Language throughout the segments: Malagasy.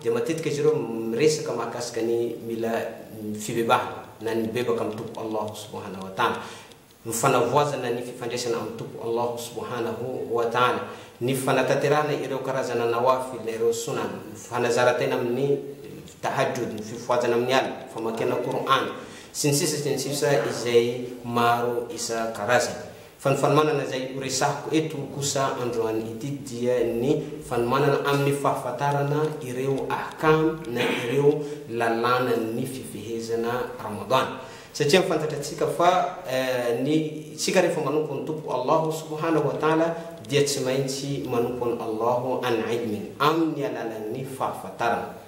dia matetika izy ireo miresaka mahakasika ny mila fibebahana na ny mibebaka amin'ny Tompo Allah Subhanahu wa Ta'ala, ny fanavoazana ny fifandraisana amin'ny Tompo Allah Subhanahu wa Ta'ala, ny fanatanterahana ireo karazana nawafil na ireo sunan, ny fanazara-tena amin'ny tahajjud, ny fifohazana amin'ny alina, ny famakiana Qur'an, sy ny sisa sy ny sisa izay maro isan-karazany. Fa ny fanomanana izay horesahiko eto kosa androany ity dia ny fanomanana amin'ny fahafantarana ireo ahkam na ireo lalànan'ny fifehezana Ramadan. Satria ny fantatratsika fa ny isika rehefa manompo ny Tompoko Allahu subhanahu wa ta'ala dia tsy maintsy manompo an'i Allahu an-'ilmin, amin'ny alalan'ny fahafantarana.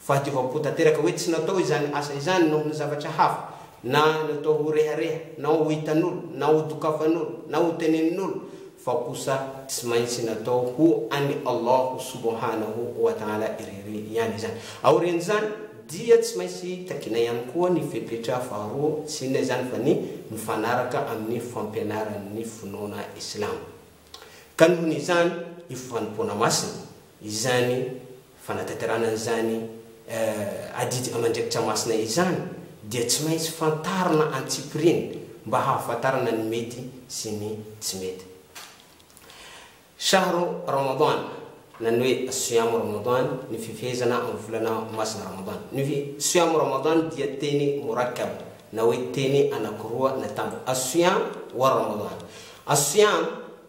Fahadiovam-po tanteraka hoe tsy natao izany asa izany noho ny zavatra hafa, na natao ho rehareha, na ho hitan'olo, na ho dokafan'olo, na ho tenenin'olo, fa kosa tsy maintsy natao ho an'i Allahu subhanahu wa ta'ala irery ihany izany. Aorian'izany dia tsy maintsy takiana ihany koa ny fepetra faharoa, tsy inona izany fa ny mifanaraka amin'ny fampianaran'ny finoana islamo. Ka noho ny izany, io fanompoana masina izany Fanatanterahana an'izany adidy aman-draikitra masina izany dia tsy maintsy fantarina antsipiriany mba hahafantarana ny mety sy ny tsy mety. Shahru Ramadan, na ny hoe Siyam Ramadan, ny fifehezana amin'ny volana masina Ramadan. Ny hoe Siyam Ramadan dia teny murakkab, na hoe teny anankiroa natambatra, As-Siyam wa Ramadan. As-Siyam.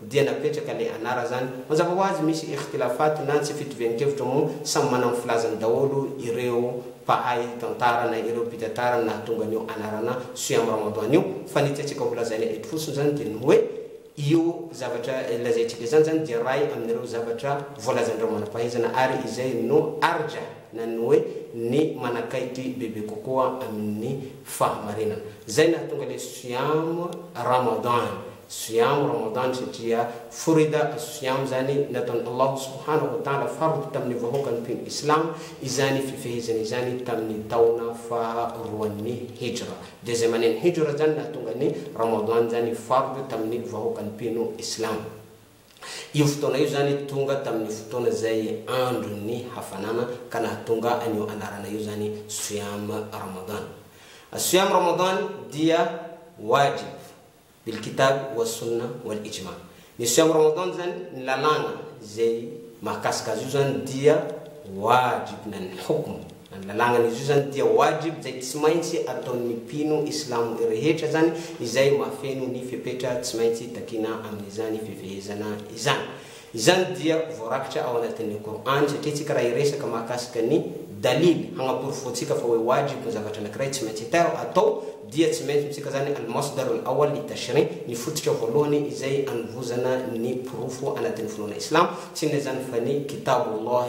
dia napetraka le anara zany mazava ho azy misy ikhtilafat na tsy fitovian-kevitra moa samy manana ny filazany daholo ireo mpahay tantara na ireo mpitatara ny nahatonga an'io anarana siyam ramadan io fa ny tiantsika ho lazaina eto fotsiny zany dia ny hoe io zavatra lazaintsika izany zany dia ray amin'ireo zavatra voalazan'ireo manam-pahaizana ary izay no arjah na ny hoe ny manakaiky bebe kokoa amin'ny fahamarinana zay nahatonga le siyam ramadan Siyam Ramadan satria furida as-siyam izany nataon' Allah subhanahu wa ta'ala fard tamin'ny vahoakan'ny mpino islamo izany fifehezana izany tamin'ny taona faha roan'ny hijra, deuxième année-n'ny hijra izany nahatonga ny Ramadan izany fard tamin'ny vahoakan'ny mpino islamo. Io fotoana io izany tonga tamin'ny fotoana izay andron'ny hafanana ka nahatonga an'io anarana io izany Siyam Ramadan. As-siyam Ramadan dia wajib. Bil Kitab wa Sunnah wal Ijma. Ny Siam Ramadan zany, ny lalàna izay mahakasika azy io zany dia wajib na ny hukm na ny lalàgna izy io zany dia wajib zay tsy maintsy ataon'ny mpino islamo rehetra zany izay mahafeno ny fepetra tsy maintsy takina amin'izany fifehezana izany. Izany dia voarakitra ao anatin'ny Qur'an satria isika raha hiresaka mahakasika ny dalil hagnaporofoantsika fa hoe wajib ny zavatra anankiray tsy maintsy atao, atao, dia tsy maintsy amintsika izany al-masdar al-awwal li-tashri', ny fototra voalohany izay anovozana ny porofo anatin'ny finoana islamo, tsy inona izany fa ny Kitab Allah,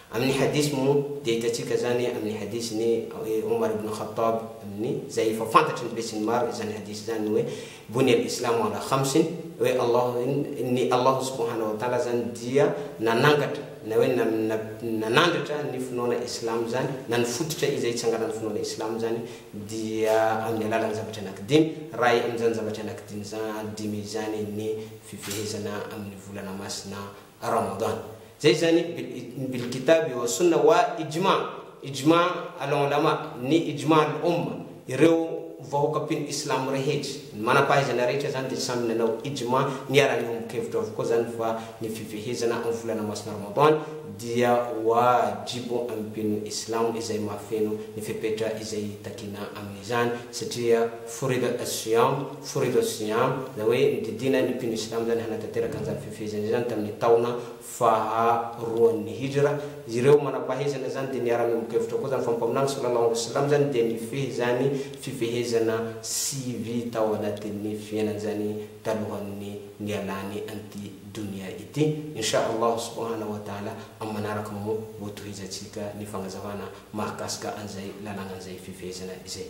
Amin'ny hadith moa dia hitantsika izany amin'ny hadith ny Omar ibn Khattab amin'ny izay efa fantatry ny besin'ny maro izany hadith izany hoe Bunia al-islamu ala khamsin hoe Allah ny Allah subhana wa ta'ala izany dia nanangatra na hoe nanandratra ny finoana islamo izany na ny fototra izay itsanganan'ny finoana islamo izany dia amin'ny alalan'ny zavatra anankidimy raha amin'izany zavatra anankidimy izany dimy izany ny fifehezana amin'ny volana masina Ramadan. Zay zany ny bil kitabi wa sunna wa ijma, ijma al ulama, ny ijma al umma, ireo vahoaka mpino islamo rehetra, ny manampahaizana rehetra zany dia samy nanao ijma, niara-niombo-kevitra avokoa zany fa ny fifehezana amin'ny volana masina Ramadan dia wajibo amin'ny mpino islamo izay mahafeno ny fepetra izay takiana amin'izany satria furida as-siyam, Furidos Siam, izany hoe ny didiana ny mpino islamo izany hanatanteraka an'izany fifehezana izany tamin'ny taona faharoan'ny hijra, ireo manam-pahaizana izany dia niara-niombon-kevitra koa izany fa ny mpaminany Sallallahu alaihi wasallam izany dia nifehy izany fifehezana sivy tao anatin'ny fiainany izany talohan'ny nialany an'ity donia ity, Insha Allah subhanahu wa ta'ala amin'ny manaraka moa ho tohizantsika ny fagnazavana mahakasika an'izay lalàna an'izay fifehezana izay.